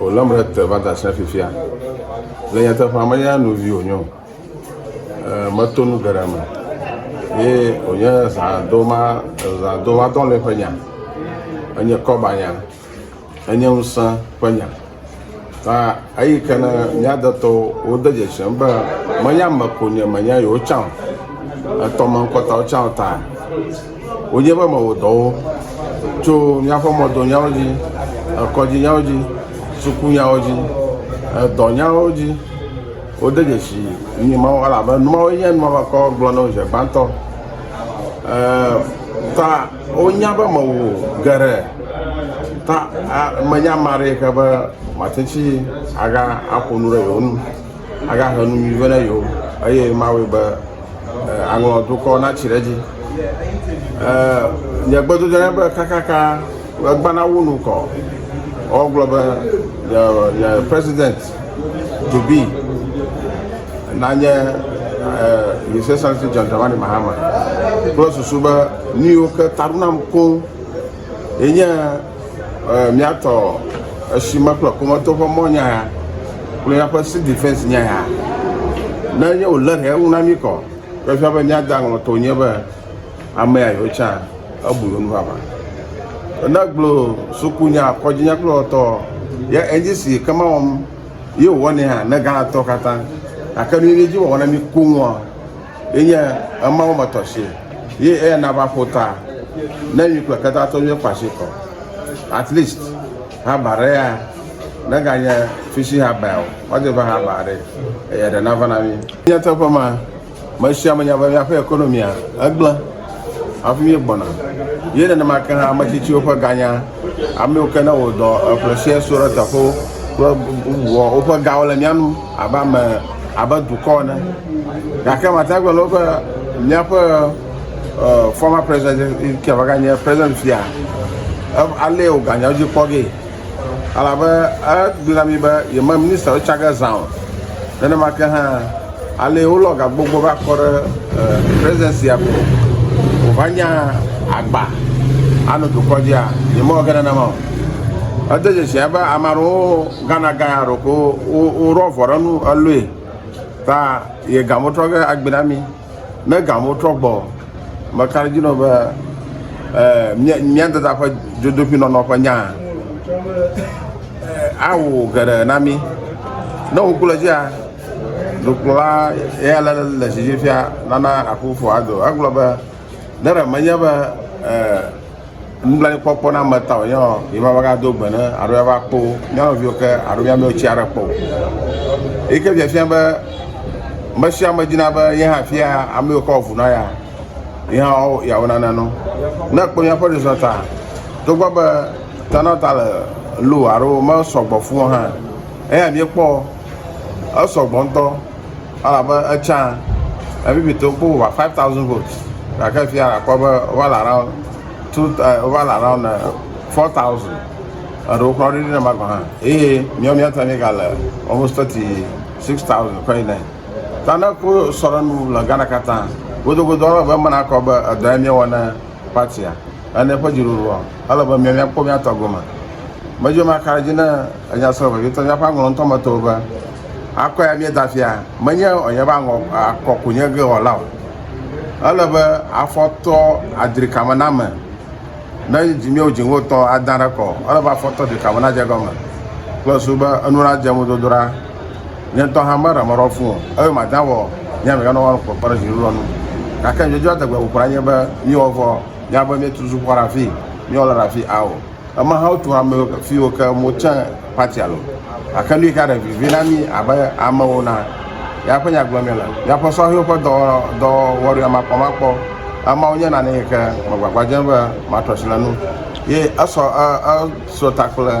Wolém ɖe te va da sia fifia. Le nyateƒea me ya novi wònye o. Ee, meto nu geɖe me. Ye wònye zãdoma, zãdoma dɔlɔe ƒe nya. Enye kɔba nya. Enye ŋusẽ ƒe nya. Ta eyi ke ne mía detɔwo wode dzesem be menye ame ko nye menye yewo tsã o. Etɔ me ŋkɔtawo tsã ta. Wodze eƒe mɔwodɔwo tso míaƒe mɔdonyawo dzi, kɔdzinyawo dzi, sukunyawo dzi, dɔnyawo dzi. Wode dzesi nu mawo elabe nu mawoe nye nu makɔ gblɔ na wo zi gbãtɔ. Ta wonya be mewɔ geɖe ta menye ame aɖe yi ke be mate ŋuti aƒo nu ɖe yewo ŋu. agahe nu nyui vɛ na yewo eye mawɔe be aŋlɔ dukɔ natsi ɖe edzi. Nye gbedodoɖa nye be kakaka egbã nawu nu kɔ woagblɔ be yeawu president to be nanye His Excellency John Dramani Mahama kple susu be nuyiwo ke ta ɖo nam koŋ. Ye nye míatɔ esime kple ƒometo ƒe mɔ nya ya kple míaƒe si defense nya ya. Ne nye wòle ɖe eŋu na mí kɔ, ke fia be míada ŋlɔ to nye be amea yewo tsã ebu yewo nuvava. Ne gblɔ suku nya kɔdzi nya kple wɔtɔ ye edzi si ke ma wɔm ye wòwɔnɛ hã ne Ghana tɔ katã. Gake nu yi edzi wɔwɔ na mí koŋua. Ye nye ema wo me tɔ si, ye eya na va ƒo ta ne nyui kple keta to nyuie kpa si kɔ. At least haba ɖe ya ne ga nye fisi haba ya o, wa de va haba ɖe eya ɖe na va na mi. Nyateƒe ma, me sia me nya be miaƒe economia egble. hafi míegbɔna. Ye nenema ke hã ame tsitsiwo ƒe ganya, ame yiwo ke ne wɔ dɔ eƒle sia so ɖe teƒewo kple bubuwoa, woƒe gawo le mía nu abe ame abe dukɔ ene. Gake mate ŋu agblɔ na wo be míaƒe e fɔma prezidɛt yi ke va ganye prezidɛt fia e alé woganya dzi kpɔ ge. Elabe egblɔ na mí be yeme ministawo tsa ge zã o. Nenema ke hã, alee wolɔ gagbogbo va kɔ ɖe presidency me o. Wòva nya agba anɔ dukɔ dzia? Yemewɔ ge nenema o. Ede dzesi be ame aɖewo Ghana guy aɖewo ko woɖo avɔ ɖe enu elɔe ta ye ga metrɔ ge agbe na mí. Ne gamewo trɔ gbɔ, meka ɖe edzi nɔ be eh, mía mía dada ƒe dzodoƒinɔnɔ ƒe nya eh, awɔ geɖe na mí. Ne wòku le dzia, dukplɔla ya le le dzidzi fia nana Akufo-Addo. Egblɔ be, ne ɖe menye be eh, Nublanuikpɔkpɔ na ame ta wònye ɔ, yi va va ga do gbe ne alo ya va kpo mía nɔviwo ke alo mía mɛwo tsi aɖe kpɔ o. Eyi ke fiafia be me sia me dina be ye hã fia ame yiwo ke wɔ vu na ya ye hã woawo yeawo nana nu. Ne ekpɔ míaƒe ɖoɖoa ta togbɔ be ta na ta le lo alo me sɔgbɔ fũu hã eya míekpɔ. Esɔ gbɔ ŋutɔ elabe etsã Namibiatɔwo kpɔ over 5000 votes gake fifia la kpɔ be wova le around two eh, wova le around 4000 eh, eɖewo kura ɖoɖi ne ma gɔ̃ hã eye míawo mía ta míegale almost 36000 kɔ yi ne ta ne ko sɔ ɖe nu le Ghana katã godogodo elabe menakɔ be edɔ ya míewɔ ne Party-a ene ƒe dziɖuɖua, ele be míakpɔ mía tɔ gome. Medze eme akaɖe edzi ne enya srɔ̃ vevietɔ míaƒe aŋlɔ ŋutɔ me to be, Akɔe ya míeda afia, menye wòanye be aŋɔ akɔ ku nye ge wɔla o. Ele be afɔtɔ adri kame na ame. Ne dzi míewo dzi ŋgotɔ adã ɖe kɔ o, ele be afɔtɔ dri kame nadze egɔme kple susu be enu nadze ŋudodo ɖa. nye ŋutɔ hã meɖe mɔ ɖe wo fũ o eye mate ŋu awɔ nye amegã nawo ƒe kpe ɖe zi ɖoɖoa nu. Gake nyɔnyrɔnrɔn dze adegbe ƒoƒo anye be míewɔ vɔ mía be míetu suku xɔ ɖe afii, míewɔ le ɖe afii ao. Eme hã wotu hame yiwo ke fi yiwo ke mo tse party alo. Gake nu yi ke ɖe vivi na mí abe amewo na ya ƒe nya gblɔm míele. Míaƒe sɔhewo ƒe dɔ dɔwɔwɔ ɖi amakpɔmakpɔ. Emawo nye nane yi ke megbagba dzem be matrɔ asi le enu ye esɔ e e. Srɔ̃ta kple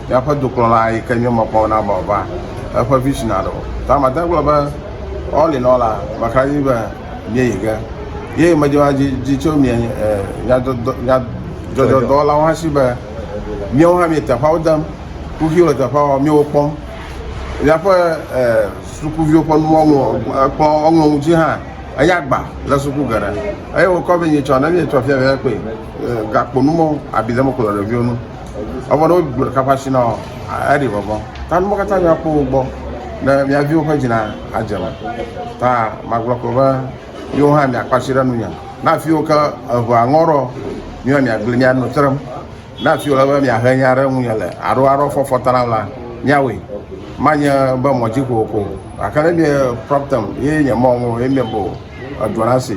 míaƒe dokplɔla yi ke nye mekpɔ na be wòava eƒe vision aɖe o. Ta mate ŋu agblɔ be all in all la, mekra dzi be míeyi ge. Ye medzɔna dzi dzi tso mía nyadzɔdzɔ nyadzɔdzɔdɔwɔlawo hã si be míawo hã míele teƒeawo dem, kuxiwo le teƒeawo, míele wo kpɔm. Míaƒe sukuviwo ƒe nuwo ŋlɔ ekplɔ eŋlɔ nu dzi hã enye agba le suku geɖe eye wokɔ vɛ nyitsɔ ne míetsɔ fiafiae kpee. gakpo nu mɔ abi ɖe mekplɔ ɖeviwo nu evɔ ne wogblɔ ɖeka ƒe asi na wòa eɖi vɔvɔ ta nuwo katã mìakpɔ wo gbɔ ne mia viwo ƒe dzi na adze me ta magblɔ ko be yewo hã mìakpɔ asi ɖe nunye na afiwo ke eʋea ŋɔ ɖɔ mìɔ mìagblẽ mìanɔ trem na afiwo le be mìahe nya ɖe ŋunye le aɖo aɖɔ fɔfɔ ta nam la mìawɔe manye be mɔ dzi kokoko gake ne mie problem ye nye mɔ ŋu ye mie bo edua na si